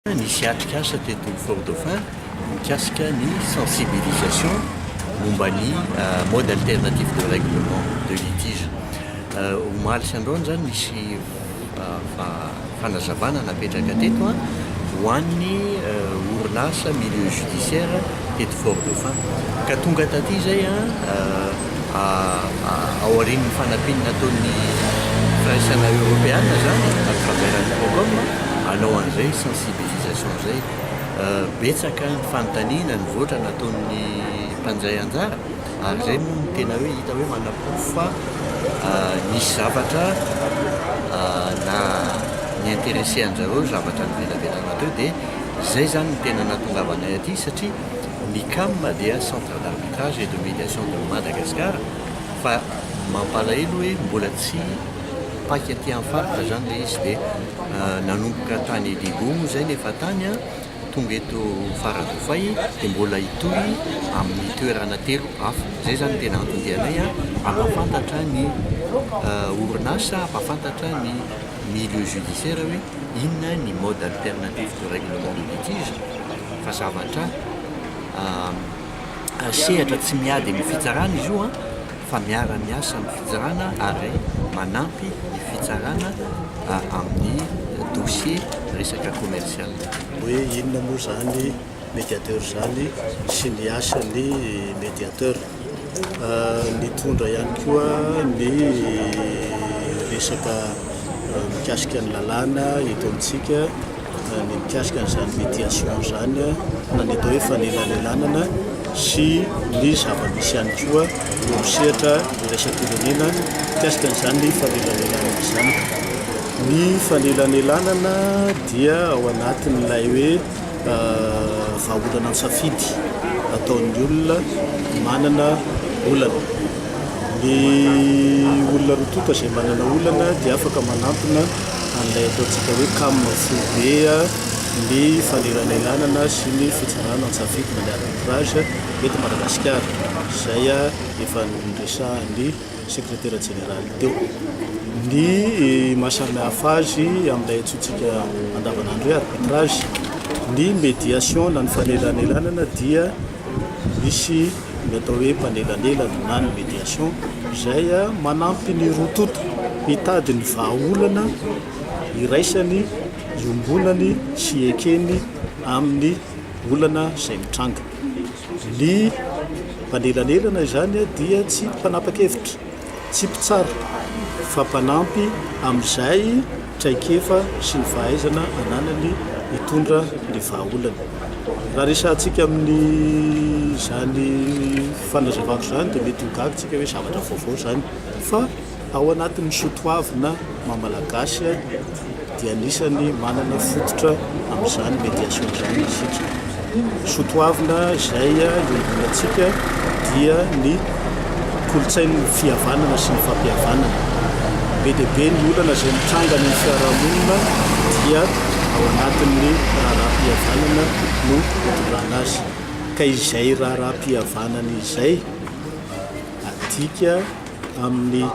Nisy atrikasa teto Fort Dauphin mikasika ny sensibilisation momba ny mode alternatif de règlement de litige. Omaly sy androany izany nisy fanazavana napetraka teto ho an'ny orinasa milieu judiciaire teto Fort Dauphin ka tonga taty izay Aorian'ny fanampiany nataon'ny firaisana eoropeana zany à travers an'i Procom hanao an'izay sensibilisation izay, betsaka ny fanontaniana nivoatra nataon'ny mpandray anjara ary izay moa no tena hoe hita hoe manaporofo fa nisy zavatra na ni-interesser anjareo zavatra nivelabelarina teo dia izay zany no tena nahatongavanay aty satria Ny cam dia Centre d'arbitrage et de médiation de Madagascar fa mampalahelo hoe mbola tsy paika aty amin'ny faritra izany ilay izy dia nanomboka tany Digo moa izay ny efa tany an, tonga eto Faradofay dia mbola hitohy amin'ny toerana telo hafa. Izay izany no tena anton-dianay an, hampahafantatra ny orinasa, hampahafantatra ny. milieu judiciaire hoe inona ny mode alternatif de règlement de litige fa zavatra sehatra tsy miady amin'ny fitsarana izy io an fa miara miasa amin'ny fitsarana ary manampy ny fitsarana amin'ny dossier resaka commercial hoe inona moa zany mediateur izany sy ny asan'ny mediateur. Nitondra ihany koa ny resaka mikasika ny lalàna eto amintsika, ny mikasika an'izany médiation izany na ny atao hoe fanelalelanana sy ny zava-misy ihany koa eo amin'ny sehatra iraisam-pirenena mikasika an'izany fanelanelanana izany. Ny fanelanelanana dia ao anatin'ilay hoe vahaolana ny safidy ataon'ny olona manana olana. Ny olona roa tonta izay manana olana dia afaka manantona an'ilay ataontsika hoe cam foibe ny fanelanelanana sy ny fitsinjana an-tsafidy na ny arbitrage eto Madagasikara. Izay efa noresahan'ny Sekretera Jeneraly teo. Ny mahasamihafa azy amin'ilay antsointsika andavanandro hoe arbitrage, ny médiation na ny fanelanelanana dia misy ny atao hoe mpanelanelana na ny médiation izay manampy ny roa tonta hitady ny vahaolana iraisany, iombonany sy ekeny amin'ny olana izay mitranga. Ny mpanelanelana izany dia tsy mpanapa-kevitra, tsy mpitsara, fa mpanampy amin'izay traikefa sy ny fahaizana ananany hitondra ny vahaolana. Raha resahantsika amin'izany fanazavako izany dia mety ho gaga isika hoe zavatra vaovao izany fa. Ao anatin'ny soatoavina maha Malagasy dia anisan'ny manana fototra amin'izany médiation izany isika. Soatoavina izay iangonantsika dia ny kolontsain'ny fihavanana sy ny fampihavanana. Be dia be ny olana izay mitranga any amin'ny fiarahamonina dia ao anatin'ny raharaham-pihavanana no itondrana azy. Ka izay raharaham-pihavanana izay adika. amin'ny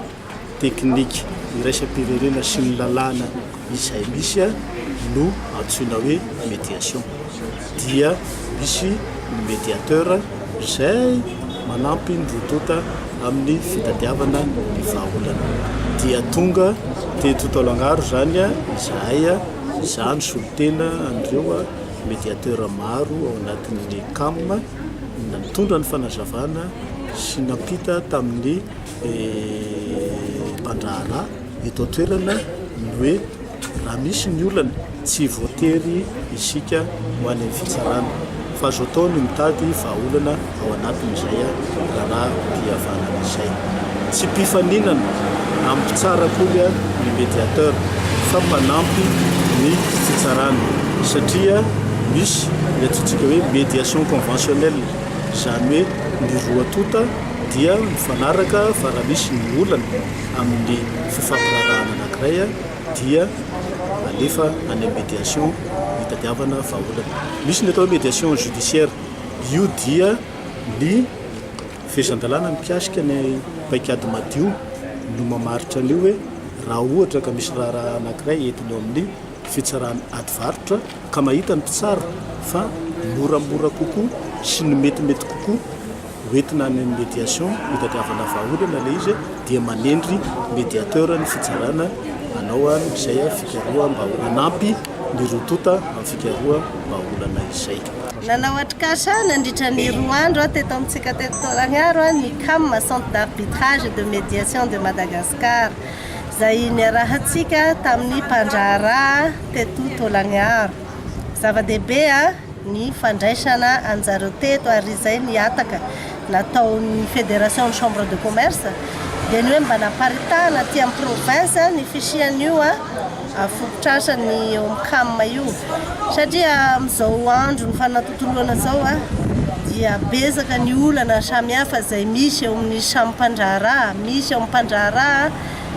teknika iraisam-pirenena sy ny lalàna izay misy no antsoina hoe médiation. Dia misy ny médiateur izay manampy ny roa tonta amin'ny fitadiavana ny vahaolana. Dia tonga teto Taolagnaro izany izahay izaho nisolo tena an'ireo médiateur maro ao anatin'ny cam. nitondra ny fanazavana sy nampita tamin'ny mpandraharaha eto an-toerana ny hoe raha misy ny olana tsy voatery isika ho any amin'ny fitsarana fa azo atao ny mitady vahaolana ao anatin'izay raharaha-pihavanana izay. Tsy mpifaninana amin'ny mpitsara akory ary ny médiateur fa mpanampy ny fitsarana satria misy ny antsointsika hoe médiation conventionnelle, izany hoe ny roa tonta dia mifanaraka fa raha misy ny olana amin'ny fifampiraharahana anankiray dia alefa any amin'ny médiation hitadiavana vahaolana. Misy ny atao hoe médiation judiciaire, io dia ny. Fehezan-dalàna mikasika ny paikady madio no mamaritra an'io hoe raha ohatra ka misy raharaha anankiray entina eo amin'ny fitsarana adivarotra ka mahita ny mpitsara fa moramora kokoa sy ny metimety kokoa hoentina any amin'ny médiation hitadiavana vahaolana ilay izy dia manendry médiateur ny fitsarana hanao an izay fikaroham-bahaolana hanampy Nirotoota antsika roa vahaolana izay. Nanao atrikasa nandritra ny roa andro aho teto amintsika teto Taolagnaro ny cam, Centre d'Arbitrage et de Médiation de Madagascar, izay niarahantsika tamin'ny mpandraharaha teto Taolagnaro. Zava-dehibe ny fandraisana anjareo teto ary izay ny hataka nataon'ny Fédération Chambre de Commerce dia ny hoe mba naparitahana aty amin'ny province ny fisian'io Ary fototr'asa ny eo amin'ny cam io satria amin'izao andron'ny fanatontoloana izao dia betsaka ny olana samihafa izay misy eo amin'ny samy mpandraharaha, misy eo amin'ny mpandraharaha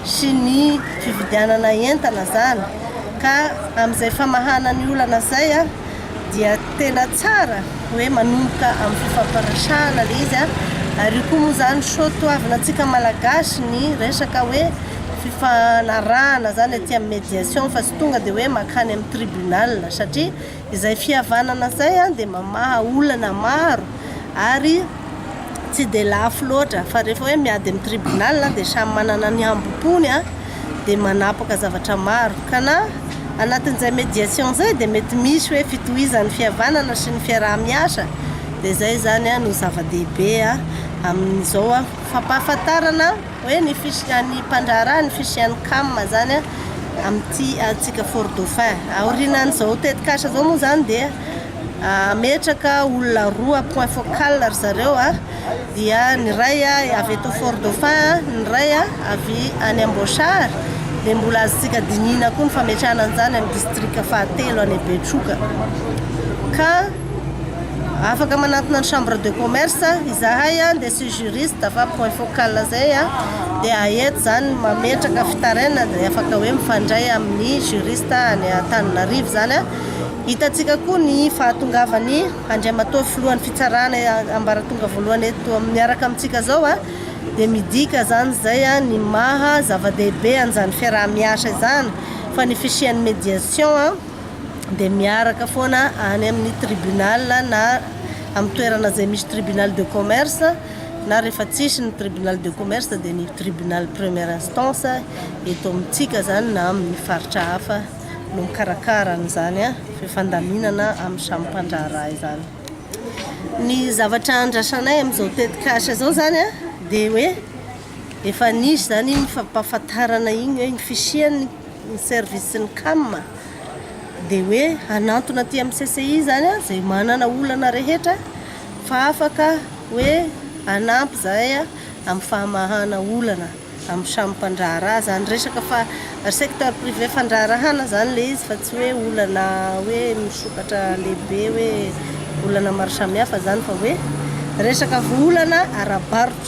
sy ny fividianana entana izany ka amin'izay famahana ny olana izay dia tena tsara hoe manomboka amin'ny fifampiresahana ilay izy an, ary io koa moa izany soa toavina antsika malagasy ny resaka hoe fifanarahana izany aty amin'ny médiation fa tsy tonga dia hoe mankany amin'ny tribunal satria izay fihavanana izay an dia mamaha olana maro ary tsy dia lafo loatra fa rehefa hoe miady amin'ny tribunal dia samy manana ny hambom-pony an. dia manapaka zavatra maro. Ka na anatin'izay médiation izay dia mety misy hoe fitohizan'ny fihavanana sy ny fiaraha-miasa, dia izay izany no zava-dehibe amin'izao fampahafantarana hoe ny fisian' ny mpandraharaha ny fisian'ny cam izany amin'ity antsika Fort Dauphin. Aorianan'izao tetikasa izao moa izany dia. Hametraka olona roa point focal ry zareo a, dia ny iray avy eto Fort Dauphin, ny iray avy any Amboasary, dia mbola azontsika dinihina koa ny fametrahana an'izany amin'ny distrika fahatelo any Betroka. Ka afaka manantona ny chambre de commerce izahay a, dia sy juriste fa point focal izay a, dia aety izany mametraka fitarainana dia afaka hoe mifandray amin'ny juriste any Antananarivo izany a. Hitantsika koa ny fahatongavan'i Andriamatoa Filohan'ny Fitsarana ambaratonga voalohany eto miaraka amintsika izao dia midika izany izay ny maha zava-dehibe an'izany fiaraha-miasa izany fa ny fisian'ny médiation dia miaraka foana any amin'ny tribunal na amin'ny toerana izay misy tribunal de commerce na rehefa tsisy ny tribunal de commerce dia ny tribunal première instance eto amintsika izany na amin'ny faritra hafa. no mikarakara an'izany fifandaminana amin'ny samy mpandraharaha izany. Ny zavatra andrasanay amin'izao tetikasa izao izany dia hoe efa nisy izany iny fampahafantarana iny hoe ny fisian'ny service ny CAM dia hoe hanantona aty amin'ny CCI izany izay manana olana rehetra fa afaka hoe hanampy izahay amin'ny fahamahana olana. amin'ny samy mpandraharaha izany resaka fa ry secteur privé fandraharahana izany ilay izy fa tsy hoe olana hoe misokatra lehibe hoe olana maro samihafa izany fa hoe resaka olana ara-barotra.